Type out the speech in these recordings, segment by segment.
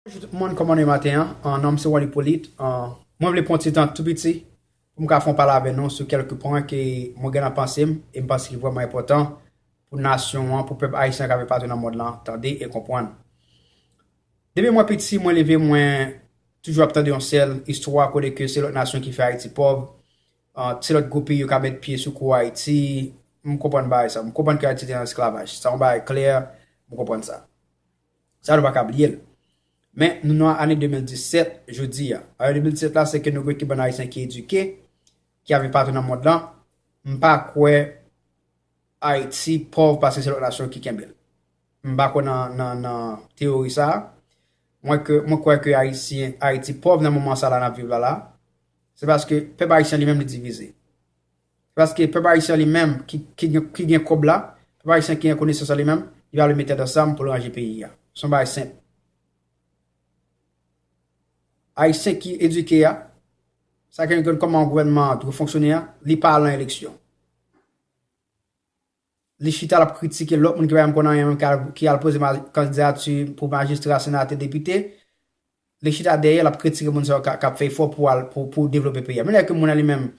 Bonjou tout moun kòman nou ye maten an nonm se Wally Polyte mwen vle pran ti tan tou piti poum ka fon pale avè nou sou kèlke pwen ke mwen gen nan pansem em panse ki vrèman enpòtan pou nasyon an pou pèp ayisyen kap viv patou nan mond lan tande e konprann depi mwen piti mwen leve mwen toujou ap tande yon sèl istwa kote ke se lòt nasyon ki fè ayiti pòv se lòt gwo peyi yo ka met pye sou kou ayiti m konprann bagay sa m konprann ke ayiti te nan esklavaj sa yon bagay klè m konprann sa Sa nou pa ka bliye l. Men, nou nan ane 2017, jodi a. Ane 2017 la, se ke nou gen ki bann Ayisyen ki edike, ki ap viv patou nan mond lan. M pa kwè Ayiti pòv paske se lòt nasyon ki kenbe l. M pa kwè nan teyori sa a. Mwen kwè ke Ayiti pòv nan moman sa la n ap viv la la, se paske pèp Ayisyen li menm li divize. Paske pèp ayisyen li menm ki gen kòb la, pèp ayisyen ki gen konesans la li menm, li pa vle met tèt ansanm pou l ranje peyi a. Se yon bagay senp. Ayisyen ki edike a, sa ki gen kòman gouvènman an dwe fonksyone a, li pa al nan eleksyon. Li chita lap kritike lòt moun ki pa janm konn anyen menm ki al poze kandidati pou majistra, senatè, depite. Li chita dèyè lap kritike moun sa yo kap fè efò pou al pou devlope peyi a. Menm lè ke moun nan li menm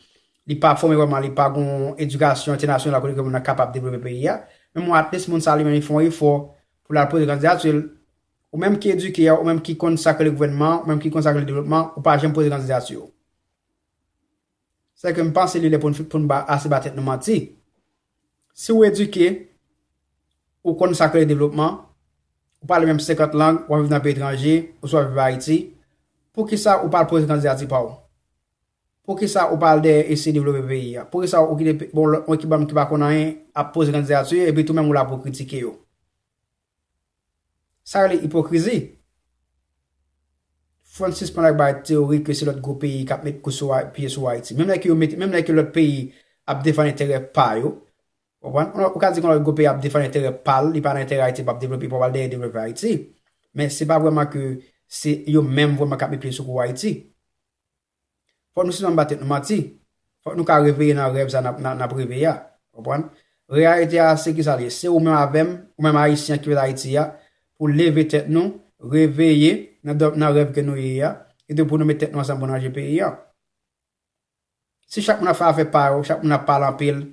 li pa fòme vrèman, li pa gon edikasyon entènasyonal kote ke moun nan kapab devlope peyi a. Men bon at least moun sa li menm li fè yon efò pou lal poze kandidati l. Ou menm ki edike a, ou menm ki konn sa k rele gouvènman, ou menm ki konn sa k rele devlopman, ou pa janm poze kandidati w. Sè ke m panse li lè pou n pou n pa ase ba tèt nou manti. Si ou edike, ou konn sa k rele devlopman, ou pale menm 50 lang, w ap viv nan peyi etranje, oswa viv Ayiti, poukisa ou pa al poze kandidati pa w? Poukisa ou pa al dèyè eseye devlope peyi a? Poukisa ou kite bon lòt moun ki banm ki pa konn anyen ap poze kandidati yo epi tou menm ou la pou w kritike yo? Sa rele ipokrizi. Fon sispann ak bay teyori ke se lòt gwo peyi kap met kou sou pye sou Ayiti. Menm lè ke yo mete, menm lè ke lòt peyi ap defann enterè pa yo, ou konprann? Ou ka di kon lòt gwo peyi ap defann enterè pa l, li pa nan enterè Ayiti, li pap devlope, li pa pral dèyè devlope Ayiti. Men se pa vrèman ke se yo menm vrèman kap met pye sou kou Ayiti. Fòk nou sispann ba tèt nou manti. Fòk nou ka reveye nan rèv sa n ap reveye a. Konprann? Reyalite a se kisa l ye? Se ou menm avè m, ou menm Ayisyen an ki fèt Ayiti a, pou leve tèt nou, reveye nan rèv ke nou ye a, epi pou nou met tèt nou ansanm pou nou ranje peyi an. Si chak moun ap fè afè pa yo, chak moun ap pale anpil,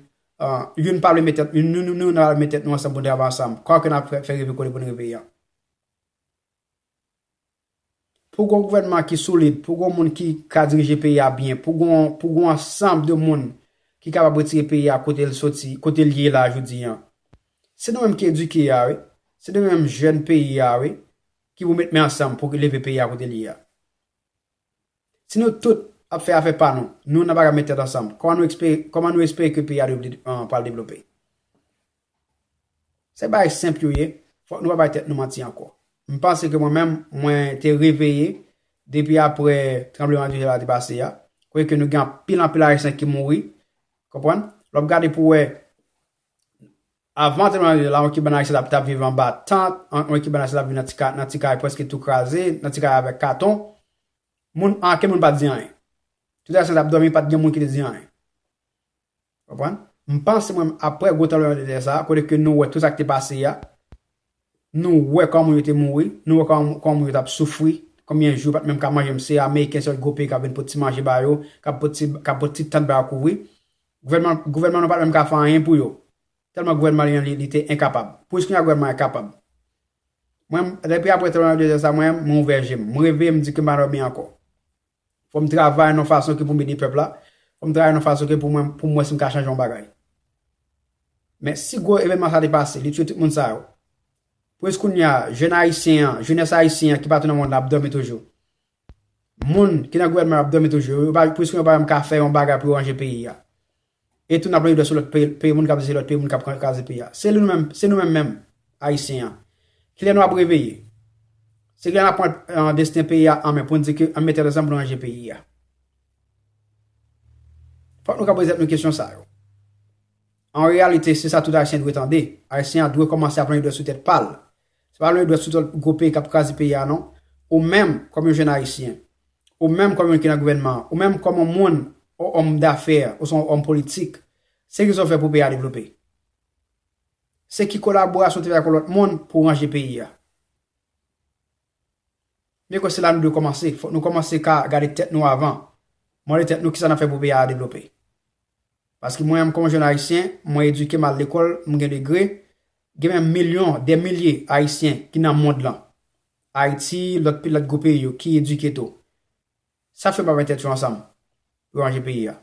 youn pa vle met tèt, nou youn nou pa vle met tèt nou ansanm pou nou travay ansanm, kòman ke n ap fè reve kole pou nou reveye an? Pou gon gouvènman ki solid, pou gon moun ki ka dirije peyi a byen, pou gon pou gon ansanb de moun ki kapab retire peyi a kote l soti, kote l ye la jodi an. Se nou menm ki edike a wi, se nou menm jèn peyi a wi ki pou met men ansanm pou leve peyi a kote l ye a. Si nou tout ap fè afè pa nou, nou nan pa ka met tèt ansanm, kòman nou espere, kòman nou espere ke peyi a devle, pral devlope? Se bagay senp yo ye, fòk nou pa bay tèt nou manti ankò. M panse ke mwen menm, mwen te reveye depi aprè tranbleman de tè la te pase a, kote ke nou gen anpil anpil Ayisyen ki mouri, konprann? Lè w ap gade pou wè, Avan tranbleman de tè la, yon ekip bann ayisyen t ap viv anba tant, yon ekip bann ayisyen t ap viv nan ti kay prèske tou kraze, nan ti kay avèk katon. Moun, anken moun pa t di anyen. Tout ayisyen t ap dòmi, pa t gen moun ki te di anyen. Ou konprann? M panse mwen menm aprè gwo tranbleman de tè sa a, kote ke nou wè tout sa ki te pase a, Nou wè kòman yo te mouri, nou wè kòman yo tap soufri, konbyen jou yo pat menm ka manje m se ameriken sèl gwo peyi kap vin pot ti manje ba yo, kap pot ti kap pot ti tant ba yo kouvri. Gouvènman gouvènman nou pat menm ka fè anyen pou yo. Tèlman gouvènman li an li li te enkapab. Pou jis kounya gouvènman an kapab. Mwen depi aprè 32 zan sa mwen mwen ouvè je m. M reve m di ke m pa dòmi ankò. Fò m travay nan yon fason ke pou m ede pèp la, fò m travay nan yon fason ke pou mwen pou m wè si m ka chanje yon bagay. Men si gwo evènman sa te pase, li tiye tout moun sa yo. Pou jis kounye a, jèn ayisyen an, jenès ayisyen an ki patou nan mond la ap dòmi toujou. Moun ki nan gouvènman yo ap dòmi toujou, pou jis kounye a yo pa menm ka fè yon bagay pou yo ranje peyi a. E tou nap lage dwèt sou lòt peyi moun kap di se lòt peyi moun kap kraze peyi a. Se nou menm, se nou menm menm Ayisyen an. Kilè nou ap reveye? Se kilè nap pran desten peyi a an men poun di ke ann mete tèt ansanm poun ranje peyi a? Fòk nou ka poze tèt nou kesyon sa yo. An reyalite se sa tout Ayisyen dwe tande, Ayisyen an dwe kòmanse ap lage dwèt sou tèt pal. Se pa lwen dwèt sou tèt gwo peyi k ap kraze peyi a non. Ou menm, kòm yon jenn Ayisyen, ou menm kòm yon ki nan gouvènman an, ou menm kòm yon moun, yon òm dafè oswa yon òm politik, se ki sa w fè pou peyi a devlope? Se ki kolaborasyon w te fè ak yon lòt moun pou w ranje peyi a? Mwen kwè se la nou dwe kòmanse. Fòk nou kòmanse ka gade tèt nou avan, mande tèt nou ki sa n ap fè pou peyi a devlope. Paske mwen menm kòm yon jenn Ayisyen, mwen edike, m al lekòl, m gen degre, Gen menm milyon, dè milye Ayisyen ki nan mond lan, Ayiti, lòt pi lòt gwo peyi yo ki edike tou. Sa fè yo pa met tèt yo ansanm pou yo ranje peyi a?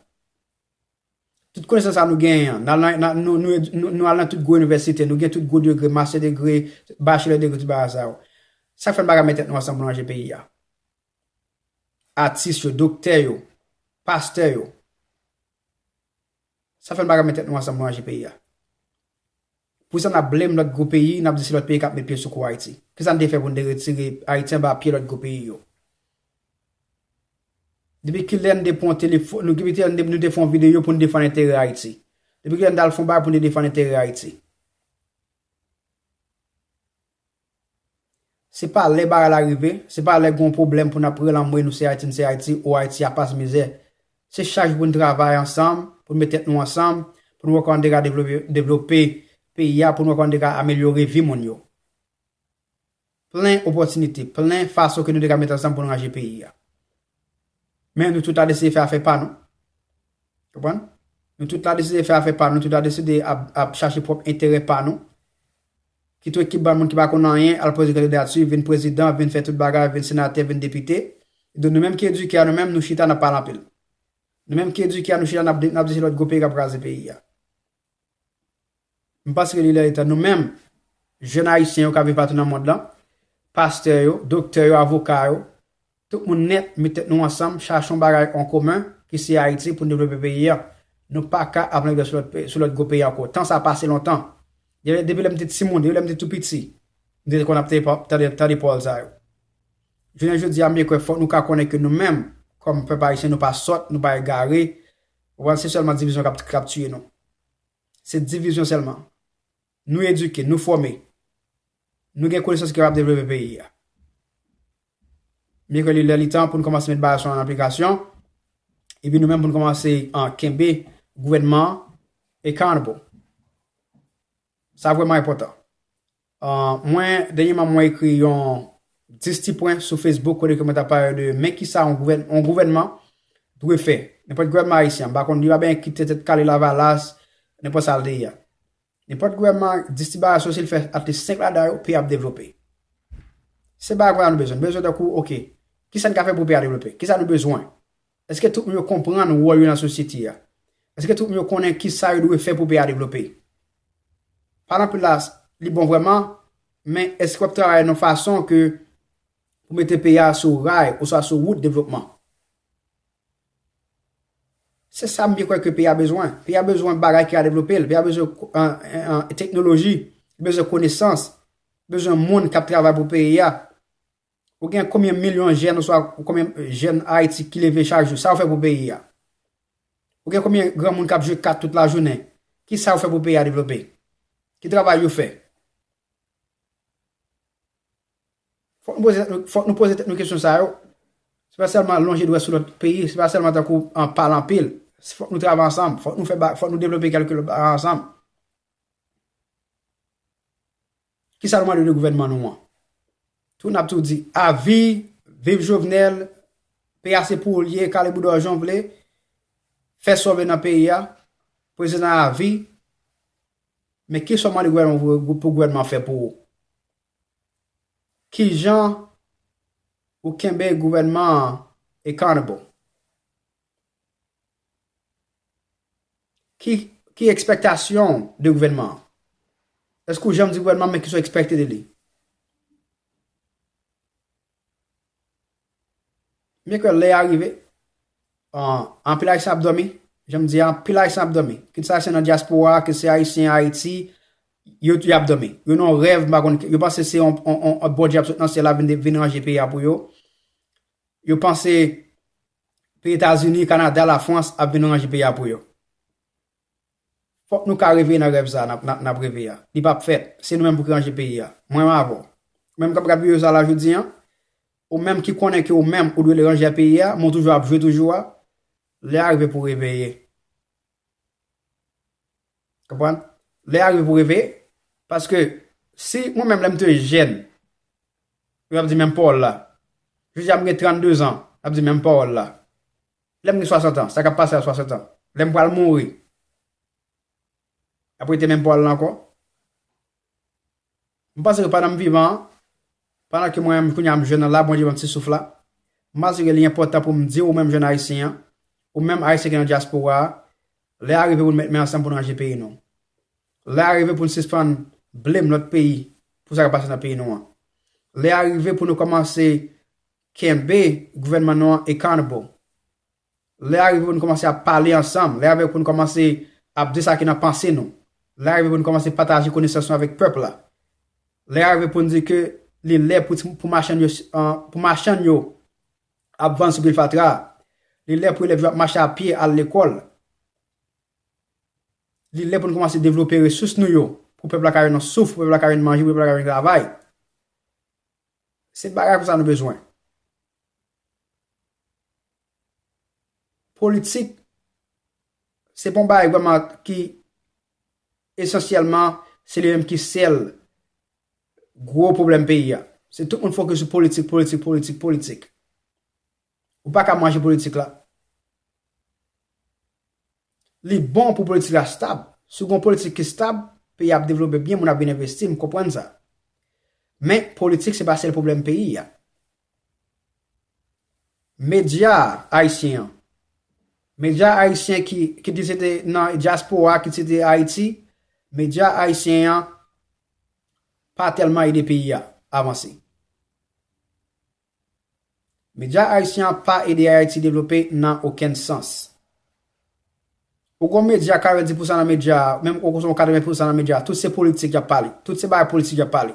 Tout konesans sa nou genyen an, nou al nan tout gwo inivèsite, nou gen tout gwo degre, mastè degre, bachelè degre, tout bagay sa yo. Sa fè n pa ka met tèt nou ansanm pou nou ranje peyi a? Atis yo, doktè yo, pastè yo, Sa fè nou pa ka met tèt nou ansanm pou nou aji peyi a. Pou sa nap blame lòt gwo peyi, nap di se lòt peyi kap met pye sou kou Ayiti. Ki sa nou te fè pou nou te retire Ayiti anba pye lòt gwo peyi yo? Depi ki lè nou te pran telefòn, nou depi ki lè nou te fè yon videyo pou nou defann enterè Ayiti? Depi ki lè nou t al fè yon bagay pou nou te defann enterè Ayiti? Se pa lè bagay la rive, se pa lè gen yon pwoblèm pou n ap rele anmwey nou se Ayiti n se Ayiti o Ayiti a pas mizè. Se chak jou pou n travay ansanm, pou n met tèt nou ansanm, pou n wè kòman n te ka devlope peyi a, pou n wè kòman n te ka amelyore vi moun yo. Plen opòtinite, plen fason ke nou te ka met ansanm pou n ranje peyi a. Men nou tout la deside fè afè pa nou. Konprann? Nou tout la deside fè afè pa nou, nou tout la deside ap chache pwòp enterè pa nou. Kit ou ekip bann moun ki pa konn anyen al poze kandidati, vin prezidan, vin fè tout bagay, vin senatè, vin depite. Epi nou menm ki edike a nou menm nou chita n ap pale anpil. Nou menm ki edike a nou chita n ap di se lòt gwo peyi k ap kraze peyi a. M panse ke li lè etan nou menm, jèn Ayisyen yo k ap viv patou nan mond lan, pastè yo, doktè yo, avoka yo, tout moun nèt met tèt nou ansanm, chache yon bagay an komen ki se Ayiti pou n devlope peyi an. Nou pa ka ap languiè sou lòt gwo peyi ankò. Tan sa pase lontan. Depi lè m te timoun, depi lè m te tou piti, m te konn ap tande pawòl sa yo. Jounen jodi a m byen kwè fòk nou ka konnen ke nou menm kòm pèp Ayisyen nou pa sòt, nou pa egare, Ou panse se sèlman divizyon k ap tiye nou? Se divizyon sèlman? Nou edike, nou fòme, nou gen konesans ki kapab devlope peyi a. Byen ke li lè li tan pou nou kòmanse met bagay sa yo an aplikasyon, epi nou menm pou nou kòmanse kenbe gouvènman an accountable. Sa vrèman enpòtan. Mwen, dènyèman mwen ekri yon 10 ti pwen sou Facebook kote ke mwen ta pale de men ki sa yon gouvènman dwe fè. Nenpòt gouvènman ayisyen, m pa konn, li pa benyen ki te tèt kale lavalas, nenpòt sa l te ye. Nenpòt gouvènman, 10 ti bagay sou si l fè atlis 5 ladan yo, peyi a ap devlope. Se bagay konsa nou bezwen. Nou bezwen tankou, ok, ki sa n ka fè pou peyi a devlope? Ki sa nou bezwen? Èske tout moun yo konprann wòl yo nan sosyete a? Èske tout moun yo konnen ki sa yo dwe fè pou peyi a devlope? Pale anpil la, li bon vrèman, men èske w ap travay nan yon fason ke pou mete peyi a sou ray oswa sou wout devlopman? Se sa m byen kwè ke peyi a bezwen. Peyi a bezwen bagay ki ka devlope l. Peyi a bezwen teknoloji, li bezwen konesans, li bezwen moun k ap travay pou peyi a. Ou gen konbyen milyon jèn oswa konbyen jèn Ayiti ki leve chak jou? Sa ou fè pou peyi a? Ou gen konbyen granmoun k ap jwe kat tout lajounen? Ki sa yo fè pou peyi a devlope? Ki travay yo fè? Fòk nou poze tèt nou kesyon sa yo. Se pa sèlman lonje dwèt sou lòt peyi, se pa sèlman tankou pale anpil. Fòk nou travay ansanm, fòk nou devlope kèlke bagay ansanm. Kisa nou mande de gouvènman nou an? Tou nap tou di avi, viv Jovenel, peyi a se pou ou li ye, kale bouda w jan w vle, fè sa w vle nan peyi a, prezidan avi, men kisa w mande pou gouvènman an fè pou ou? Kijan ou kenbe gouvènman an accountable? Ki ekspektasyon ou de gouvènman an? Eske ou janm di gouvènman an men kisa ou ekspekte de li? Mwen kwè lè a rive, anpil Ayisyen ap dòmi, jan m di a, anpil Ayisyen ap dòmi. Kit se Ayisyen nan dyaspora, kit se Ayisyen Ayiti, yo tou y ap dòmi. Yo nan yon rèv, m pa konn, yo panse se yon Bondye ap sot nan syèl la vin ranje peyi a pou yo. Yo panse. Peyi etazini, kanada, la frans ap vin ranje peyi a pou yo. Fok nou ka reve nan rèv sa nap reve a. Li pap fèt. Se nou menm pou ki ranje peyi a. Mwen menm avèw. Ou menm kap gad video sa la jodi an, ou menm ki konnen ke ou menm ou dwe l ranje a peyi a, men ou toujou ap jwe toujou a, lè a rive pou reveye. Konprann? Lè a rive pou reveye. Paske, si mwen menm lè m te jèn, yo t ap di menm pawòl la. Jodi a m gen 32 zan, y ap di menm pawòl la. Lè m gen 60 an, sa k ap pase a 60 an? Lè m pral mouri, y ap rete menm pawòl la ankò? M panse ke pandan m vivan an, pandan ke mwen menm kounye a m jèn la, Bondye ban m ti souf la, m panse ke li enpòtan pou m di ou menm jèn Ayisyen an, ou menm Ayisyen ki nan dyaspora a, lè a rive pou nou met men ansanm pou nou ranje peyi nou. Lè a rive pou nou sispann blame lòt peyi pou sa k ap pase nan peyi nou an. Lè a rive pou nou kòmanse kenbe gouvènman nou an accountable. Lè a rive pou nou kòmanse ap pale ansanm, lè a rive pou nou kòmanse ap di sa ki nan panse nou, lè a rive pou nou kòmanse pataje konesans nou avèk pèp la, lè a rive pou nou di ke li lè pou machann yo pou machann yo ap vann sou pil fatra a, li lè pou elèv yo ap mache a pye al lekòl, li lè pou nou kòmanse devlope resous nou yo pou pèp la ka jwenn yon souf, pou pèp la ka jwenn manje, pou pèp la ka jwenn travay. Se bagay konsa nou bezwen. Politik se pa yon bagay vreman ki esansyèlman se li menm ki sèl gwo pwoblèm peyi a. Se tout moun fokis sou politik, politik, politik, politik. Ou pa ka manje politik la. Li bon pou politik la stab. Si w gen yon politik ki stab, peyi a ap devlope byen, moun ap vin envesti, m konprann sa. Men, politik se pa sèl pwoblèm peyi a. Medya ayisyen an, medya ayisyen ki, kit li se te nan dyaspora a, kit se te Ayiti, medya ayisyen an pa tèlman ede peyi a avanse. Medya ayisyen an pa ede Ayiti devlope nan okenn sans. Ou gon medya 40 pousan nan medya a, menm ou gon 80 pousan nan medya a, tout se politik y ap pale. Tout se bagay politik y ap pale.